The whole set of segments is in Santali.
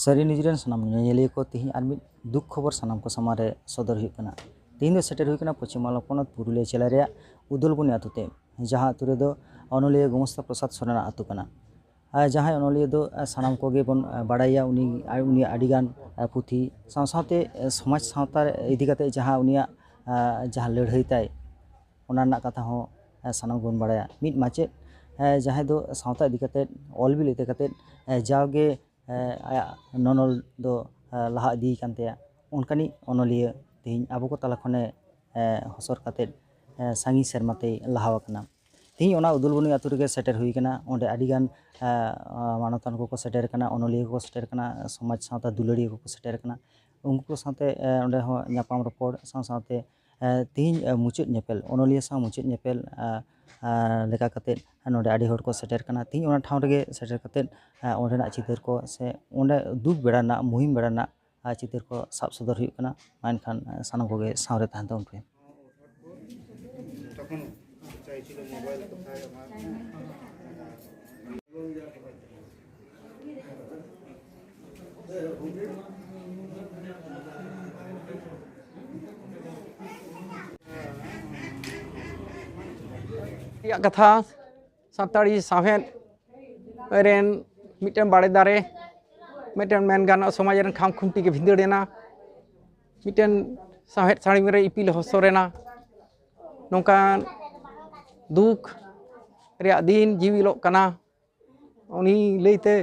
ᱥᱟᱹᱨᱤ ᱱᱤᱭᱩᱡᱽ ᱨᱮᱱ ᱥᱟᱱᱟᱢ ᱧᱮᱧᱮᱞᱤᱭᱟᱹ ᱠᱚ ᱛᱮᱦᱮᱧ ᱟᱨ ᱢᱤᱫ ᱫᱩᱠ ᱠᱷᱚᱵᱚᱨ ᱥᱟᱱᱟᱢ ᱠᱚ ᱥᱟᱢᱟᱝ ᱨᱮ ᱥᱚᱫᱚᱨ ᱦᱩᱭᱩᱜ ᱠᱟᱱᱟ ᱛᱮᱦᱮᱧ ᱫᱚ ᱥᱮᱴᱮᱨ ᱦᱩᱭ ᱠᱟᱱᱟ ᱯᱚᱪᱷᱤᱢ ᱵᱟᱝᱞᱟ ᱯᱚᱱᱚᱛ ᱯᱩᱨᱩᱞᱤᱭᱟᱹ ᱡᱮᱞᱟ ᱨᱮᱭᱟᱜ ᱩᱫᱚᱞᱵᱚᱱᱤ ᱟᱹᱛᱩ ᱛᱮ ᱡᱟᱦᱟᱸ ᱟᱹᱛᱩ ᱨᱮᱫᱚ ᱚᱱᱚᱞᱤᱭᱟᱹ ᱜᱚᱢᱚᱥᱛᱟ ᱯᱨᱚᱥᱟᱫᱽ ᱥᱚᱨᱮᱱ ᱟᱜ ᱟᱹᱛᱩ ᱠᱟᱱᱟ ᱟᱨ ᱡᱟᱦᱟᱸᱭ ᱚᱱᱚᱞᱤᱭᱟᱹ ᱫᱚ ᱥᱟᱱᱟᱢ ᱠᱚᱜᱮ ᱵᱚᱱ ᱵᱟᱲᱟᱭᱮᱭᱟ ᱩᱱᱤ ᱩᱱᱤᱭᱟᱜ ᱟᱹᱰᱤ ᱜᱟᱱ ᱯᱩᱛᱷᱤ ᱥᱟᱶ ᱥᱟᱶᱛᱮ ᱥᱚᱢᱟᱡᱽ ᱥᱟᱶᱛᱟ ᱤᱫᱤ ᱠᱟᱛᱮᱫ ᱡᱟᱦᱟᱸ ᱩᱱᱤᱭᱟᱜ ᱡᱟᱦᱟᱸ ᱞᱟᱹᱲᱦᱟᱹᱭ ᱛᱟᱭ ᱚᱱᱟ ᱨᱮᱱᱟᱜ ᱠᱟᱛᱷᱟ ᱦᱚᱸ ᱥᱟᱱᱟᱢ ᱠᱚᱵᱚᱱ ᱵᱟᱲᱟᱭᱟ ᱢᱤᱫ ᱢᱟᱪᱮᱫ ᱡᱟᱦᱟᱸᱭ ᱫᱚ ᱥᱟᱶᱛᱟ ᱤᱫᱤ ᱠᱟᱛᱮᱫ ᱚᱞ ᱵᱤᱞ ᱤᱫᱤ ᱠᱟᱛᱮᱫ ᱡᱟᱣᱜᱮ ᱟᱭᱟᱜ ᱱᱚᱱᱚᱞ ᱫᱚ ᱞᱟᱦᱟ ᱤᱫᱤ ᱟᱠᱟᱱ ᱛᱟᱭᱟ ᱚᱱᱠᱟᱱᱤᱡ ᱚᱱᱚᱞᱤᱭᱟᱹ ᱛᱮᱦᱮᱧ ᱟᱵᱚ ᱠᱚ ᱛᱟᱞᱟ ᱠᱷᱚᱱᱮ ᱦᱚᱥᱚᱨ ᱠᱟᱛᱮᱫ ᱥᱟᱺᱜᱤᱧ ᱥᱮᱨᱢᱟ ᱛᱮᱭ ᱞᱟᱦᱟ ᱟᱠᱟᱱᱟ ᱛᱮᱦᱮᱧ ᱚᱱᱟ ᱩᱫᱩᱞᱵᱚᱱᱤ ᱟᱹᱛᱩ ᱨᱮᱜᱮ ᱥᱮᱴᱮᱨ ᱦᱩᱭ ᱟᱠᱟᱱᱟ ᱚᱸᱰᱮ ᱟᱹᱰᱤ ᱜᱟᱱ ᱢᱟᱱᱚᱛᱟᱱ ᱠᱚᱠᱚ ᱥᱮᱴᱮᱨ ᱟᱠᱟᱱᱟ ᱚᱱᱚᱞᱤᱭᱟᱹ ᱠᱚᱠᱚ ᱥᱮᱴᱮᱨ ᱟᱠᱟᱱᱟ ᱥᱚᱢᱟᱡᱽ ᱥᱟᱶᱛᱟ ᱫᱩᱞᱟᱹᱲᱤᱭᱟᱹ ᱠᱚᱠᱚ ᱥᱮᱴᱮᱨ ᱟᱠᱟᱱᱟ ᱩᱱᱠᱩ ᱠᱚ ᱥᱟᱶᱛᱮ ᱚᱸᱰᱮ ᱦᱚᱸ ᱧᱟᱯᱟᱢ ᱨᱚᱯᱚᱲ ᱥᱟᱶ ᱥᱟᱶᱛᱮ ᱛᱮᱦᱮᱧ ᱢᱩᱪᱟᱹᱫ ᱧᱮᱯᱮᱞ ᱚᱱᱚᱞᱤᱭᱟᱹ ᱥᱟᱶ ᱢᱩᱪᱟᱹᱫ ᱧᱮᱯᱮᱞ ᱞᱮᱠᱟ ᱠᱟᱛᱮᱫ ᱱᱚᱰᱮ ᱟᱹᱰᱤ ᱦᱚᱲ ᱠᱚ ᱥᱮᱴᱮᱨ ᱠᱟᱱᱟ ᱛᱮᱦᱮᱧ ᱚᱱᱟ ᱴᱷᱟᱶ ᱨᱮᱜᱮ ᱥᱮᱴᱮᱨ ᱠᱟᱛᱮᱫ ᱚᱸᱰᱮᱱᱟᱜ ᱪᱤᱛᱟᱹᱨ ᱠᱚ ᱥᱮ ᱚᱸᱰᱮ ᱫᱩᱠ ᱵᱮᱲᱟ ᱨᱮᱱᱟᱜ ᱢᱩᱦᱤᱢ ᱵᱮᱲᱟ ᱨᱮᱱᱟᱜ ᱪᱤᱛᱟᱹᱨ ᱠᱚ ᱥᱟᱵ ᱥᱚᱫᱚᱨ ᱦᱩᱭᱩᱜ ᱠᱟᱱᱟ ᱢᱟ ᱮᱱᱠᱷᱟᱱ ᱥᱟᱱᱟᱢ ᱠᱚᱜᱮ ᱥᱟᱶᱨᱮ ᱛᱟᱦᱮᱱ ᱛᱟᱵᱚᱱ ᱯᱮ ᱨᱮᱭᱟᱜ ᱠᱟᱛᱷᱟ ᱥᱟᱱᱛᱟᱲᱤ ᱥᱟᱶᱦᱮᱫ ᱨᱮᱱ ᱢᱤᱫᱴᱮᱱ ᱵᱟᱲᱮ ᱫᱟᱨᱮ ᱢᱤᱫᱴᱮᱱ ᱢᱮᱱ ᱜᱟᱱᱚᱜᱼᱟ ᱥᱚᱢᱟᱡᱽ ᱨᱮᱱ ᱠᱷᱟᱢ ᱠᱷᱩᱱᱴᱤ ᱜᱮ ᱵᱷᱤᱸᱫᱟᱹᱲ ᱮᱱᱟ ᱢᱤᱫᱴᱮᱱ ᱥᱟᱶᱦᱮᱫ ᱥᱟᱹᱲᱤᱢ ᱨᱮ ᱤᱯᱤᱞ ᱦᱚᱥᱚᱨ ᱮᱱᱟ ᱱᱚᱝᱠᱟᱱ ᱫᱩᱠ ᱨᱮᱭᱟᱜ ᱫᱤᱱ ᱡᱤᱣᱤᱞᱚᱜ ᱠᱟᱱᱟ ᱩᱱᱤ ᱞᱟᱹᱭ ᱛᱮ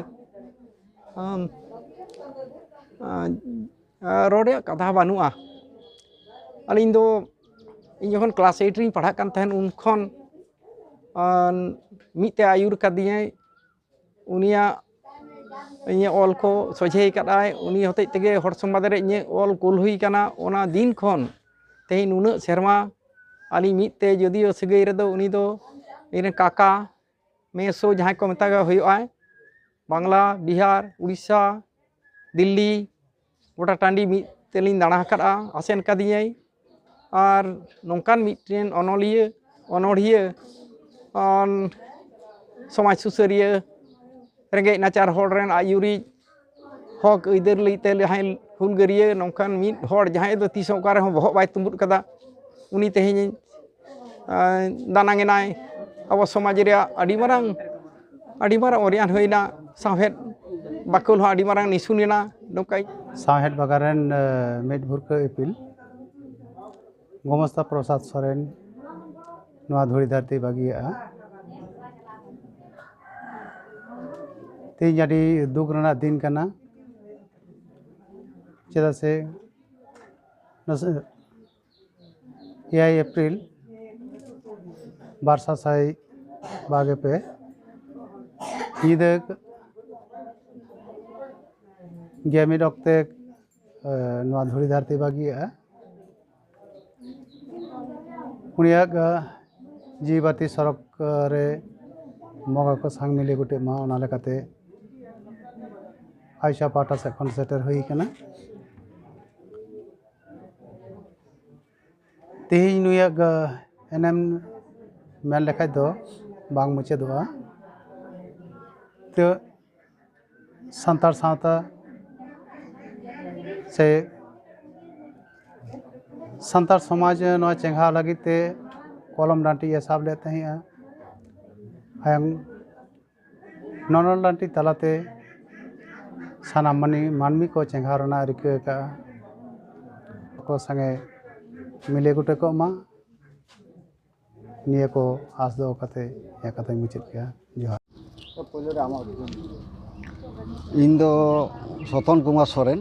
ᱟᱢ ᱨᱚᱲ ᱨᱮᱭᱟᱜ ᱠᱟᱛᱷᱟ ᱵᱟᱹᱱᱩᱜᱼᱟ ᱟᱹᱞᱤᱧ ᱫᱚ ᱤᱧ ᱡᱚᱠᱷᱚᱱ ᱠᱞᱟᱥ ᱮᱭᱤᱴ ᱨᱤᱧ ᱯᱟᱲᱦᱟᱜ ᱠᱟᱱ ᱛᱟᱦᱮᱱ ᱩᱱ ᱠᱷᱚᱱ ᱢᱤᱫ ᱛᱮ ᱟᱹᱭᱩᱨ ᱠᱟᱫᱤᱧᱟᱭ ᱩᱱᱤᱭᱟᱜ ᱤᱧᱟᱹᱜ ᱚᱞ ᱠᱚ ᱥᱚᱡᱷᱮ ᱠᱟᱜ ᱟᱭ ᱩᱱᱤ ᱦᱚᱛᱮᱡ ᱛᱮᱜᱮ ᱦᱚᱲ ᱥᱚᱢᱵᱟᱫ ᱨᱮ ᱤᱧᱟᱹᱜ ᱚᱞ ᱠᱩᱞ ᱦᱩᱭ ᱠᱟᱱᱟ ᱚᱱᱟ ᱫᱤᱱ ᱠᱷᱚᱱ ᱛᱮᱦᱮᱧ ᱱᱩᱱᱟᱹᱜ ᱥᱮᱨᱢᱟ ᱟᱹᱞᱤᱧ ᱢᱤᱫ ᱛᱮ ᱡᱳᱫᱤᱭᱳ ᱥᱟᱹᱜᱟᱹᱭ ᱨᱮᱫᱚ ᱩᱱᱤ ᱫᱚ ᱤᱧ ᱨᱮᱱ ᱠᱟᱠᱟ ᱢᱮᱥᱳ ᱡᱟᱦᱟᱸᱭ ᱠᱚ ᱢᱮᱛᱟᱜ ᱦᱩᱭᱩᱜᱼᱟ ᱵᱟᱝᱞᱟ ᱵᱤᱦᱟᱨ ᱩᱲᱤᱥᱥᱟ ᱫᱤᱞᱞᱤ ᱜᱚᱴᱟ ᱴᱟᱺᱰᱤ ᱢᱤᱫ ᱛᱮᱞᱤᱧ ᱫᱟᱬᱟ ᱟᱠᱟᱫᱼᱟ ᱟᱥᱮᱱ ᱟᱠᱟᱫᱤᱧᱟᱭ ᱟᱨ ᱱᱚᱝᱠᱟᱱ ᱢᱤᱫᱴᱮᱱ ᱚᱱᱚᱞᱤᱭᱟᱹ ᱚᱱᱚᱲᱦᱤᱭᱟᱹ ᱥᱚᱢᱟᱡᱽ ᱥᱩᱥᱟᱹᱨᱤᱭᱟᱹ ᱨᱮᱸᱜᱮᱡ ᱱᱟᱪᱟᱨ ᱦᱚᱲ ᱨᱮᱱ ᱟᱹᱭᱩᱨᱤᱡ ᱦᱚᱠ ᱟᱹᱭᱫᱟᱹᱨ ᱞᱟᱹᱜᱤᱫ ᱛᱮ ᱡᱟᱦᱟᱸᱭ ᱦᱩᱞᱜᱟᱹᱨᱭᱟᱹ ᱱᱚᱝᱠᱟᱱ ᱢᱤᱫ ᱦᱚᱲ ᱡᱟᱦᱟᱸᱭ ᱫᱚ ᱛᱤᱥ ᱦᱚᱸ ᱚᱠᱟ ᱨᱮᱦᱚᱸ ᱵᱚᱦᱚᱜ ᱵᱟᱭ ᱛᱩᱢᱵᱩᱫ ᱠᱟᱫᱟ ᱩᱱᱤ ᱛᱮᱦᱮᱧ ᱫᱟᱱᱟᱝ ᱮᱱᱟᱭ ᱟᱵᱚ ᱥᱚᱢᱟᱡᱽ ᱨᱮᱭᱟᱜ ᱟᱹᱰᱤ ᱢᱟᱨᱟᱝ ᱟᱹᱰᱤ ᱢᱟᱨᱟᱝ ᱚᱨᱭᱟᱱ ᱦᱩᱭᱱᱟ ᱥᱟᱶᱦᱮᱫ ᱵᱟᱠᱷᱳᱞ ᱦᱚᱸ ᱟᱹᱰᱤ ᱢᱟᱨᱟᱝ ᱱᱤᱥᱩᱱ ᱮᱱᱟ ᱱᱚᱝᱠᱟ ᱥᱟᱶᱦᱮᱫ ᱵᱟᱜᱟᱱ ᱨᱮᱱ ᱢᱤᱫ ᱵᱷᱩᱨᱠᱟᱹ ᱤᱯᱤᱞ ᱜᱚᱢᱚᱥᱛᱟ ᱯᱨᱚᱥᱟᱫᱽ ᱥᱚᱨᱮᱱ ᱱᱚᱣᱟ ᱫᱷᱩᱲᱤ ᱫᱷᱟᱹᱨᱛᱤ ᱵᱟᱹᱜᱤᱭᱟᱜᱼᱟ ᱛᱮᱦᱮᱧ ᱟᱹᱰᱤ ᱫᱩᱠ ᱨᱮᱱᱟᱜ ᱫᱤᱱ ᱠᱟᱱᱟ ᱪᱮᱫᱟᱜ ᱥᱮ ᱮᱭᱟᱭ ᱮᱯᱨᱤᱞ ᱵᱟᱨ ᱥᱟᱥᱟᱭ ᱵᱟᱜᱮ ᱯᱮ ᱧᱤᱫᱟᱹ ᱜᱮᱢᱤᱫ ᱚᱠᱛᱮ ᱱᱚᱣᱟ ᱫᱷᱩᱲᱤ ᱫᱷᱟᱹᱨᱛᱤ ᱵᱟᱹᱜᱤᱭᱟᱜᱼᱟ ᱩᱱᱤᱭᱟᱜ ᱡᱤᱣᱤ ᱵᱟᱹᱛᱤ ᱥᱚᱨᱚᱠ ᱨᱮ ᱵᱚᱸᱜᱟ ᱠᱚ ᱥᱟᱶ ᱢᱤᱞᱮ ᱜᱚᱴᱮᱜ ᱢᱟ ᱚᱱᱟ ᱞᱮᱠᱟᱛᱮ ᱟᱭᱥᱟ ᱯᱟᱦᱴᱟ ᱥᱮᱫ ᱠᱷᱚᱱ ᱥᱮᱴᱮᱨ ᱦᱩᱭ ᱠᱟᱱᱟ ᱛᱮᱦᱮᱧ ᱱᱩᱭᱟᱜ ᱮᱱᱮᱢ ᱢᱮᱱ ᱞᱮᱠᱷᱟᱡ ᱫᱚ ᱵᱟᱝ ᱢᱩᱪᱟᱹᱫᱚᱜᱼᱟ ᱛᱚ ᱥᱟᱱᱛᱟᱲ ᱥᱟᱶᱛᱟ ᱥᱮ ᱥᱟᱱᱛᱟᱲ ᱥᱚᱢᱟᱡᱽ ᱱᱚᱣᱟ ᱪᱮᱸᱜᱷᱟᱣ ᱞᱟᱹᱜᱤᱫ ᱛᱮ ᱠᱚᱞᱚᱢ ᱰᱟᱹᱱᱴᱤᱭᱮ ᱥᱟᱵ ᱞᱮᱫ ᱛᱟᱦᱮᱸᱜᱼᱟ ᱟᱨ ᱱᱚᱱᱚᱞ ᱱᱟᱴᱤ ᱛᱟᱞᱟᱛᱮ ᱥᱟᱱᱟᱢ ᱢᱟᱹᱱᱢᱤ ᱢᱟᱹᱱᱢᱤ ᱠᱚ ᱪᱮᱸᱜᱷᱟᱣ ᱨᱮᱱᱟᱜ ᱮ ᱨᱤᱠᱟᱹ ᱟᱠᱟᱫᱼᱟ ᱟᱠᱚ ᱥᱚᱸᱜᱮ ᱢᱤᱞᱮ ᱜᱚᱴᱮ ᱠᱚᱜ ᱢᱟ ᱱᱤᱭᱟᱹ ᱠᱚ ᱟᱸᱥ ᱫᱚᱦᱚ ᱠᱟᱛᱮ ᱤᱧᱟᱹᱜ ᱠᱟᱛᱷᱟᱧ ᱢᱩᱪᱟᱹᱫ ᱠᱮᱫᱼᱟ ᱡᱚᱦᱟᱨ ᱤᱧ ᱫᱚ ᱥᱚᱛᱚᱱ ᱠᱩᱢᱟᱨ ᱥᱚᱨᱮᱱ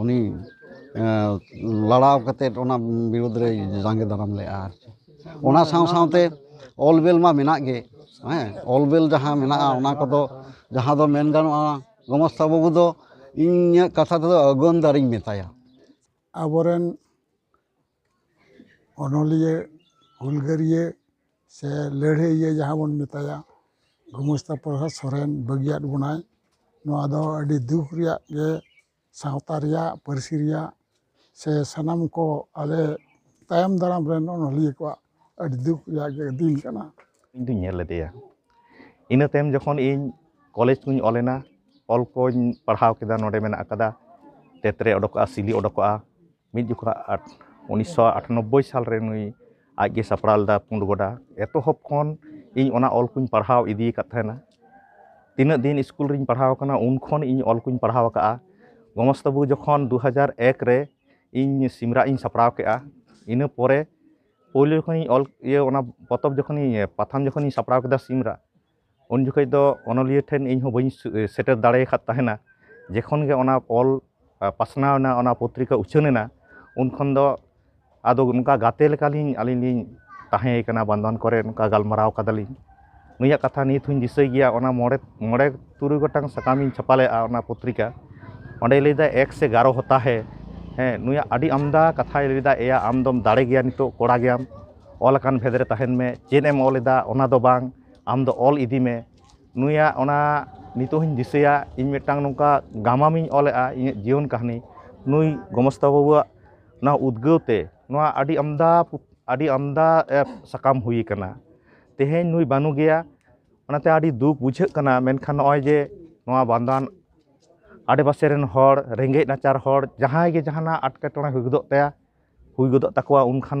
ᱩᱱᱤ ᱞᱟᱲᱟᱣ ᱠᱟᱛᱮᱫ ᱚᱱᱟ ᱵᱤᱨᱩᱫᱽ ᱨᱮᱭ ᱡᱟᱸᱜᱮ ᱫᱟᱨᱟᱢ ᱞᱮᱫᱼᱟ ᱟᱨ ᱪᱮᱫ ᱚᱱᱟ ᱥᱟᱶ ᱥᱟᱶᱛᱮ ᱚᱞ ᱵᱮᱞ ᱢᱟ ᱢᱮᱱᱟᱜ ᱜᱮ ᱦᱮᱸ ᱚᱞ ᱵᱮᱞ ᱡᱟᱦᱟᱸ ᱢᱮᱱᱟᱜᱼᱟ ᱚᱱᱟ ᱠᱚᱫᱚ ᱡᱟᱦᱟᱸ ᱫᱚ ᱢᱮᱱ ᱜᱟᱱᱚᱜᱼᱟ ᱜᱚᱢᱚᱥᱛᱟ ᱵᱟᱹᱵᱩ ᱫᱚ ᱤᱧᱟᱹᱜ ᱠᱟᱛᱷᱟ ᱛᱮᱫᱚ ᱟᱹᱜᱩᱣᱟᱹᱱ ᱫᱟᱨᱮᱧ ᱢᱮᱛᱟᱭᱟ ᱟᱵᱚ ᱨᱮᱱ ᱚᱱᱚᱞᱤᱭᱟᱹ ᱦᱩᱞᱜᱟᱹᱨᱤᱭᱟᱹ ᱥᱮ ᱞᱟᱹᱲᱦᱟᱹᱭᱤᱭᱟᱹ ᱡᱟᱦᱟᱸ ᱵᱚᱱ ᱢᱮᱛᱟᱭᱟ ᱜᱳᱢᱚᱥᱛᱟ ᱯᱨᱚᱥᱟᱫᱽ ᱥᱚᱨᱮᱱ ᱵᱟᱹᱜᱤᱭᱟᱫ ᱵᱚᱱᱟᱭ ᱱᱚᱣᱟ ᱫᱚ ᱟᱹᱰᱤ ᱫᱩᱠ ᱨᱮᱭᱟᱜ ᱜᱮ ᱥᱟᱶᱛᱟ ᱨᱮᱭᱟᱜ ᱯᱟᱹᱨᱥᱤ ᱨᱮᱭᱟᱜ ᱥᱮ ᱥᱟᱱᱟᱢ ᱠᱚ ᱟᱞᱮ ᱛᱟᱭᱚᱢ ᱫᱟᱨᱟᱢ ᱨᱮᱱ ᱚᱱᱚᱞᱤᱭᱟᱹ ᱠᱚᱣᱟᱜ ᱟᱹᱰᱤ ᱫᱩᱠ ᱨᱮᱭᱟᱜ ᱜᱮ ᱫᱤᱱ ᱠᱟᱱᱟ ᱤᱧ ᱫᱩᱧ ᱧᱮᱞ ᱞᱮᱫᱮᱭᱟ ᱤᱱᱟᱹ ᱛᱟᱭᱚᱢ ᱡᱚᱠᱷᱚᱱ ᱤᱧ ᱠᱚᱞᱮᱡᱽ ᱠᱚᱧ ᱚᱞ ᱮᱱᱟ ᱚᱞ ᱠᱚᱧ ᱯᱟᱲᱦᱟᱣ ᱠᱮᱫᱟ ᱱᱚᱰᱮ ᱢᱮᱱᱟᱜ ᱠᱟᱫᱟ ᱛᱮᱛᱨᱮ ᱚᱰᱚᱠᱚᱜᱼᱟ ᱥᱤᱞᱤ ᱚᱰᱚᱠᱚᱜᱼᱟ ᱢᱤᱫ ᱡᱚᱠᱷᱚᱱ ᱩᱱᱤᱥᱥᱚ ᱟᱴᱟᱱᱚᱵᱵᱳᱭ ᱥᱟᱞ ᱨᱮ ᱱᱩᱭ ᱟᱡ ᱜᱮ ᱥᱟᱯᱲᱟᱣ ᱞᱮᱫᱟ ᱯᱩᱸᱰ ᱵᱚᱰᱟ ᱮᱛᱚᱦᱚᱵ ᱠᱷᱚᱱ ᱤᱧ ᱚᱱᱟ ᱚᱞ ᱠᱚᱧ ᱯᱟᱲᱦᱟᱣ ᱤᱫᱤ ᱟᱠᱟᱫ ᱛᱟᱦᱮᱱᱟ ᱛᱤᱱᱟᱹᱜ ᱫᱤᱱ ᱤᱥᱠᱩᱞ ᱨᱤᱧ ᱯᱟᱲᱦᱟᱣ ᱠᱟᱱᱟ ᱩᱱ ᱠᱷᱚᱱ ᱤᱧ ᱚᱞ ᱠᱚᱧ ᱯᱟᱲᱦᱟᱣ ᱠᱟᱜᱼᱟ ᱜᱚᱢᱚᱥ ᱛᱟᱹᱵᱩ ᱡᱚᱠᱷᱚᱱ ᱫᱩ ᱦᱟᱡᱟᱨ ᱮᱠ ᱨᱮ ᱤᱧ ᱥᱤᱢᱨᱟ ᱤᱧ ᱥᱟᱯᱲᱟᱣ ᱠᱮᱜᱼᱟ ᱤᱱᱟᱹ ᱯᱚᱨᱮ ᱯᱳᱭᱞᱳ ᱡᱚᱠᱷᱚᱱᱤᱧ ᱚᱞ ᱤᱭᱟᱹ ᱚᱱᱟ ᱯᱚᱛᱚᱵ ᱡᱚᱠᱷᱚᱱᱤᱧ ᱯᱟᱛᱷᱟᱢ ᱡᱚᱠᱷᱚᱱᱤᱧ ᱥᱟᱯᱲᱟᱣ ᱠᱮᱫᱟ ᱥᱤᱢᱨᱟ ᱩᱱ ᱡᱚᱠᱷᱚᱱ ᱫᱚ ᱚᱱᱚᱞᱤᱭᱟᱹ ᱴᱷᱮᱱ ᱤᱧ ᱦᱚᱸ ᱵᱟᱹᱧ ᱥᱮᱴᱮᱨ ᱫᱟᱲᱮ ᱟᱠᱟᱫ ᱛᱟᱦᱮᱱᱟ ᱡᱚᱠᱷᱚᱱ ᱜᱮ ᱚᱱᱟ ᱚᱞ ᱯᱟᱥᱱᱟᱣ ᱮᱱᱟ ᱚᱱᱟ ᱯᱚᱛᱨᱤᱠᱟ ᱩᱪᱷᱟᱹᱱ ᱮᱱᱟ ᱩᱱ ᱠᱷᱚᱱ ᱫᱚ ᱟᱫᱚ ᱚᱱᱠᱟ ᱜᱟᱛᱮ ᱞᱮᱠᱟ ᱞᱤᱧ ᱟᱹᱞᱤᱧ ᱞᱤᱧ ᱛᱟᱦᱮᱸ ᱠᱟᱱᱟ ᱵᱟᱱᱫᱷᱣᱟᱱ ᱠᱚᱨᱮ ᱚᱱᱠᱟ ᱜᱟᱞᱢᱟᱨᱟᱣ ᱠᱟᱫᱟ ᱞᱤᱧ ᱱᱩᱭᱟᱜ ᱠᱟᱛᱷᱟ ᱱᱤᱛ ᱦᱚᱸᱧ ᱫᱤᱥᱟᱹᱭ ᱜᱮᱭᱟ ᱚᱱᱟ ᱢᱚᱬᱮ ᱢᱚᱬᱮ ᱛᱩᱨᱩᱭ ᱜᱚᱴᱟᱝ ᱥᱟᱠᱟᱢ ᱤᱧ ᱪᱷᱟᱯᱟ ᱞᱮᱫᱼᱟ ᱚᱱᱟ ᱯᱚᱛᱨᱤᱠᱟ ᱚᱸᱰᱮᱭ ᱞᱟᱹᱭᱫᱟ ᱮᱠ ᱥᱮ ᱜᱟᱨᱚ ᱦᱚᱛᱟ ᱦᱮ ᱦᱮᱸ ᱱᱩᱭᱟᱜ ᱟᱹᱰᱤ ᱟᱢᱫᱟ ᱠᱟᱛᱷᱟᱭ ᱞᱟᱹᱭᱫᱟ ᱮᱭᱟ ᱟᱢ ᱫᱚᱢ ᱫᱟᱲᱮ ᱜᱮᱭᱟ ᱱᱤᱛᱚᱜ ᱠᱚᱲᱟ ᱜᱮᱭᱟᱢ ᱚᱞ ᱟᱠᱟᱱ ᱵᱷᱮᱫᱽ ᱨᱮ ᱛᱟᱦᱮᱱ ᱢᱮ ᱪᱮᱫ ᱮᱢ ᱚᱞ ᱮᱫᱟ ᱚᱱᱟ ᱫᱚ ᱵᱟᱝ ᱟᱢᱫᱚ ᱚᱞ ᱤᱫᱤ ᱢᱮ ᱱᱩᱭᱟᱜ ᱚᱱᱟ ᱱᱤᱛᱚᱜ ᱦᱚᱸᱧ ᱫᱤᱥᱟᱹᱭᱟ ᱤᱧ ᱢᱤᱫᱴᱟᱱ ᱱᱚᱝᱠᱟ ᱜᱟᱢᱟᱢ ᱤᱧ ᱚᱞ ᱞᱮᱫᱟ ᱤᱧᱟᱹᱜ ᱡᱤᱭᱚᱱ ᱠᱟᱹᱦᱱᱤ ᱱᱩᱭ ᱜᱚᱢᱚᱥᱛᱟ ᱵᱟᱹᱵᱩᱣᱟᱜ ᱚᱱᱟ ᱩᱫᱽᱜᱟᱹᱣ ᱛᱮ ᱱᱚᱣᱟ ᱟᱹᱰᱤ ᱟᱢᱫᱟ ᱟᱹᱰᱤ ᱟᱢᱫᱟ ᱥᱟᱠᱟᱢ ᱦᱩᱭ ᱠᱟᱱᱟ ᱛᱮᱦᱮᱧ ᱱᱩᱭ ᱵᱟᱹᱱᱩᱜ ᱮᱭᱟ ᱚᱱᱟᱛᱮ ᱟᱹᱰᱤ ᱫᱩᱠ ᱵᱩᱡᱷᱟᱹᱜ ᱠᱟᱱᱟ ᱢᱮᱱᱠᱷᱟᱱ ᱱᱚᱜᱼᱚᱭ ᱡᱮ ᱱᱚᱣᱟ ᱵᱟᱱᱫᱳᱣᱟᱱ ᱟᱰᱮᱯᱟᱥᱮ ᱨᱮᱱ ᱦᱚᱲ ᱨᱮᱸᱜᱮᱡ ᱱᱟᱪᱟᱨ ᱦᱚᱲ ᱡᱟᱦᱟᱸᱭ ᱜᱮ ᱡᱟᱦᱟᱱᱟᱜ ᱮᱸᱴᱠᱮᱴᱚᱬᱮ ᱦᱩᱭ ᱜᱚᱫᱚᱜ ᱛᱟᱭᱟ ᱦᱩᱭ ᱜᱚᱫᱚᱜ ᱛᱟᱠᱚᱣᱟ ᱩᱱᱠᱷᱟᱱ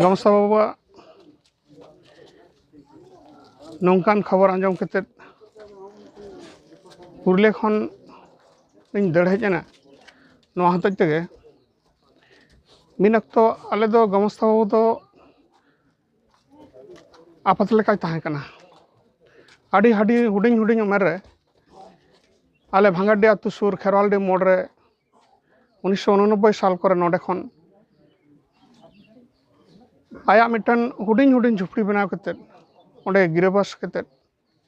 ᱜᱚᱢᱥᱟ ᱵᱟᱵᱟᱣᱟᱜ ᱱᱚᱝᱠᱟᱱ ᱠᱷᱚᱵᱚᱨ ᱟᱸᱡᱚᱢ ᱠᱟᱛᱮᱫ ᱯᱩᱨᱩᱞᱤᱭᱟᱹ ᱠᱷᱚᱱ ᱤᱧ ᱫᱟᱹᱲ ᱦᱮᱡ ᱮᱱᱟ ᱱᱚᱣᱟ ᱦᱚᱛᱮᱡ ᱛᱮᱜᱮ ᱢᱤᱫ ᱚᱠᱛᱚ ᱟᱞᱮ ᱫᱚ ᱜᱚᱢᱚᱥᱛᱟ ᱵᱟᱹᱵᱩ ᱫᱚ ᱟᱯᱟᱛ ᱞᱮᱠᱟᱭ ᱛᱟᱦᱮᱸ ᱠᱟᱱᱟ ᱟᱹᱰᱤ ᱟᱹᱰᱤ ᱦᱩᱰᱤᱧ ᱦᱩᱰᱤᱧ ᱩᱢᱮᱨ ᱨᱮ ᱟᱞᱮ ᱵᱷᱟᱸᱜᱟᱰᱤ ᱟᱹᱛᱩ ᱥᱩᱨ ᱠᱷᱮᱨᱣᱟᱞᱰᱤ ᱢᱳᱲ ᱨᱮ ᱩᱱᱤᱥᱥᱚ ᱩᱱᱚᱱᱚᱵᱵᱳᱭ ᱥᱟᱞ ᱠᱚᱨᱮ ᱱᱚᱰᱮ ᱠᱷᱚᱱ ᱟᱭᱟᱜ ᱢᱤᱫᱴᱟᱝ ᱦᱩᱰᱤᱧ ᱦᱩᱰᱤᱧ ᱡᱷᱩᱯᱲᱤ ᱵᱮᱱᱟᱣ ᱠᱟᱛᱮᱫ ᱚᱸᱰᱮ ᱜᱤᱨᱟᱹᱵᱟᱥ ᱠᱟᱛᱮᱫ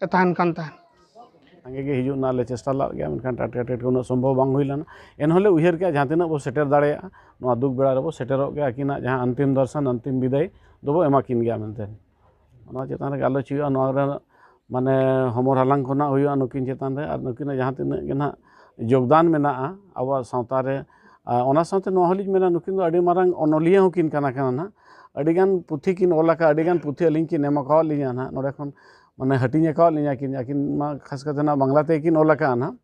ᱮ ᱛᱟᱦᱮᱱ ᱠᱟᱱ ᱛᱟᱦᱮᱸᱫ ᱥᱟᱸᱜᱮ ᱜᱮ ᱦᱤᱡᱩᱜ ᱨᱮᱱᱟᱜ ᱞᱮ ᱪᱮᱥᱴᱟ ᱞᱮᱫ ᱜᱮᱭᱟ ᱢᱮᱱᱠᱷᱟᱱ ᱴᱟᱴᱠᱟ ᱴᱟᱴᱠᱟ ᱩᱱᱟᱹᱜ ᱥᱚᱢᱵᱷᱚᱵ ᱵᱟᱝ ᱦᱩᱭ ᱞᱮᱱᱟ ᱮᱱᱦᱚᱸ ᱞᱮ ᱩᱭᱦᱟᱹᱨ ᱠᱮᱫᱼᱟ ᱡᱟᱦᱟᱸ ᱛᱤᱱᱟᱹᱜ ᱵᱚ ᱥᱮᱴᱮᱨ ᱫᱟᱲᱮᱭᱟᱜᱼᱟ ᱱᱚᱣᱟ ᱫᱩᱠ ᱵᱮᱲᱟ ᱨᱮᱵᱚ ᱥᱮᱴᱮᱨᱚᱜ ᱜᱮᱭᱟ ᱟᱹᱠᱤᱱᱟᱜ ᱡᱟᱦᱟᱸ ᱚᱱᱛᱤᱢ ᱫᱚᱨᱥᱚᱱ ᱚᱱᱛᱤᱢ ᱵᱤᱫᱟᱹᱭ ᱫᱚᱵᱚ ᱮᱢᱟ ᱠᱤᱱ ᱜᱮᱭᱟ ᱢᱮᱱᱛᱮ ᱚᱱᱟ ᱪᱮᱛᱟᱱ ᱨᱮ ᱜᱟᱞᱚᱪ ᱦᱩᱭᱩᱜᱼᱟ ᱱᱚᱣᱟ ᱨᱮᱱᱟᱜ ᱢᱟᱱᱮ ᱦᱚᱢᱚᱨ ᱦᱟᱞᱟᱝ ᱠᱚ ᱱᱟᱦᱟᱜ ᱦᱩᱭᱩᱜᱼᱟ ᱱᱩᱠᱤᱱ ᱪᱮᱛᱟᱱ ᱨᱮ ᱟᱨ ᱱᱩᱠᱤᱱᱟᱜ ᱡᱟᱦᱟᱸ ᱛᱤᱱᱟᱹᱜ ᱜᱮ ᱱᱟᱦᱟᱜ ᱡᱳᱜᱽᱫᱟᱱ ᱢᱮᱱᱟᱜᱼᱟ ᱟᱵᱚᱣᱟᱜ ᱥᱟᱶᱛᱟ ᱨᱮ ᱟᱨ ᱚᱱᱟ ᱥᱟᱶᱛᱮ ᱱᱚᱣᱟ ᱦᱚᱸᱞᱤᱧ ᱢᱮᱱᱟ ᱱᱩᱠᱤᱱ ᱫᱚ ᱟᱹᱰᱤ ᱢᱟᱨᱟᱝ ᱚᱱᱚᱞᱤᱭᱟᱹ ᱦᱚᱸᱠᱤᱱ ᱠᱟᱱᱟ ᱠᱤᱱ ᱱᱟᱦᱟᱜ ᱟᱹᱰᱤ ᱜᱟᱱ ᱯᱩᱛᱷᱤ ᱠᱤᱱ ᱚᱞ ᱟᱠᱟᱫᱼᱟ ᱟᱹᱰᱤ ᱜᱟᱱ ᱯᱩᱛᱷᱤ ᱟᱹᱞᱤᱧ ᱠᱤᱱ ᱮᱢ ᱟᱠᱟᱫ ᱞᱤᱧᱟᱹ ᱱᱟᱦᱟᱜ ᱱᱚᱰᱮ ᱠᱷᱚᱱ ᱢᱟᱱᱮ ᱦᱟᱹᱴᱤᱧ ᱟᱠᱟᱫ ᱞᱤᱧᱟᱹ ᱠᱤᱱ ᱟᱹᱠᱤᱱ ᱢᱟ ᱠᱷᱟᱥ ᱠᱟᱛᱮᱫ ᱱᱟᱦᱟᱜ ᱵᱟᱝᱞᱟ ᱛᱮᱜᱮ ᱠᱤᱱ ᱚᱞ ᱟᱠᱟᱫᱼᱟ ᱱᱟᱦᱟᱜ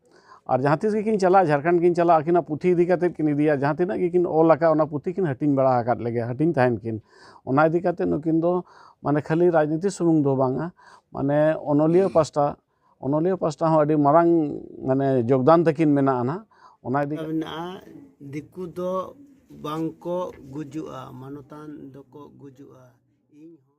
ᱟᱨ ᱡᱟᱦᱟᱸ ᱛᱤᱥ ᱜᱮᱠᱤᱱ ᱪᱟᱞᱟᱜ ᱡᱷᱟᱲᱠᱷᱚᱸᱰ ᱠᱤᱱ ᱪᱟᱞᱟᱜ ᱟᱹᱠᱤᱱᱟᱜ ᱯᱩᱛᱷᱤ ᱤᱫᱤ ᱠᱟᱛᱮ ᱠᱤᱱ ᱤᱫᱤᱭᱟ ᱡᱟᱦᱟᱸ ᱛᱤᱱᱟᱹᱜ ᱜᱮᱠᱤᱱ ᱚᱞ ᱟᱠᱟᱫ ᱚᱱᱟ ᱯᱩᱛᱷᱤ ᱠᱤᱱ ᱦᱟᱹᱴᱤᱧ ᱵᱟᱲᱟ ᱟᱠᱟᱫ ᱞᱮᱜᱮᱭᱟ ᱦᱟᱹᱴᱤᱧ ᱛᱟᱦᱮᱱ ᱠᱤᱱ ᱚᱱᱟ ᱤᱫᱤ ᱠᱟᱛᱮ ᱱᱩᱠᱤᱱ ᱫᱚ ᱢᱟᱱᱮ ᱠᱷᱟᱹᱞᱤ ᱨᱟᱡᱽᱱᱤᱛᱤ ᱥᱩᱢᱩᱝ ᱫᱚ ᱵᱟᱝᱟ ᱢᱟᱱᱮ ᱚᱱᱚᱞᱤᱭᱟᱹ ᱯᱟᱥᱴᱟ ᱚᱱᱚᱞᱤᱭᱟᱹ ᱯᱟᱥᱴᱟ ᱦᱚᱸ ᱟᱹᱰᱤ ᱢᱟᱨᱟᱝ ᱢᱟᱱᱮ ᱡᱳᱜᱽᱫᱟᱱ ᱛᱟᱹᱠᱤᱱ ᱢᱮᱱᱟᱜᱼᱟ ᱱᱟᱜ ᱚᱱᱟ ᱤᱫᱤ ᱠᱟᱛᱮ ᱢᱮᱱᱟᱜᱼᱟ ᱫᱤᱠᱩ ᱫᱚ ᱵᱟᱝ ᱠᱚ ᱜᱩᱡᱩᱜᱼᱟ ᱢᱟᱱᱚᱛᱟᱱ ᱫᱚᱠᱚ ᱜᱩᱡᱩᱜᱼᱟ ᱤᱧ ᱦᱚᱸ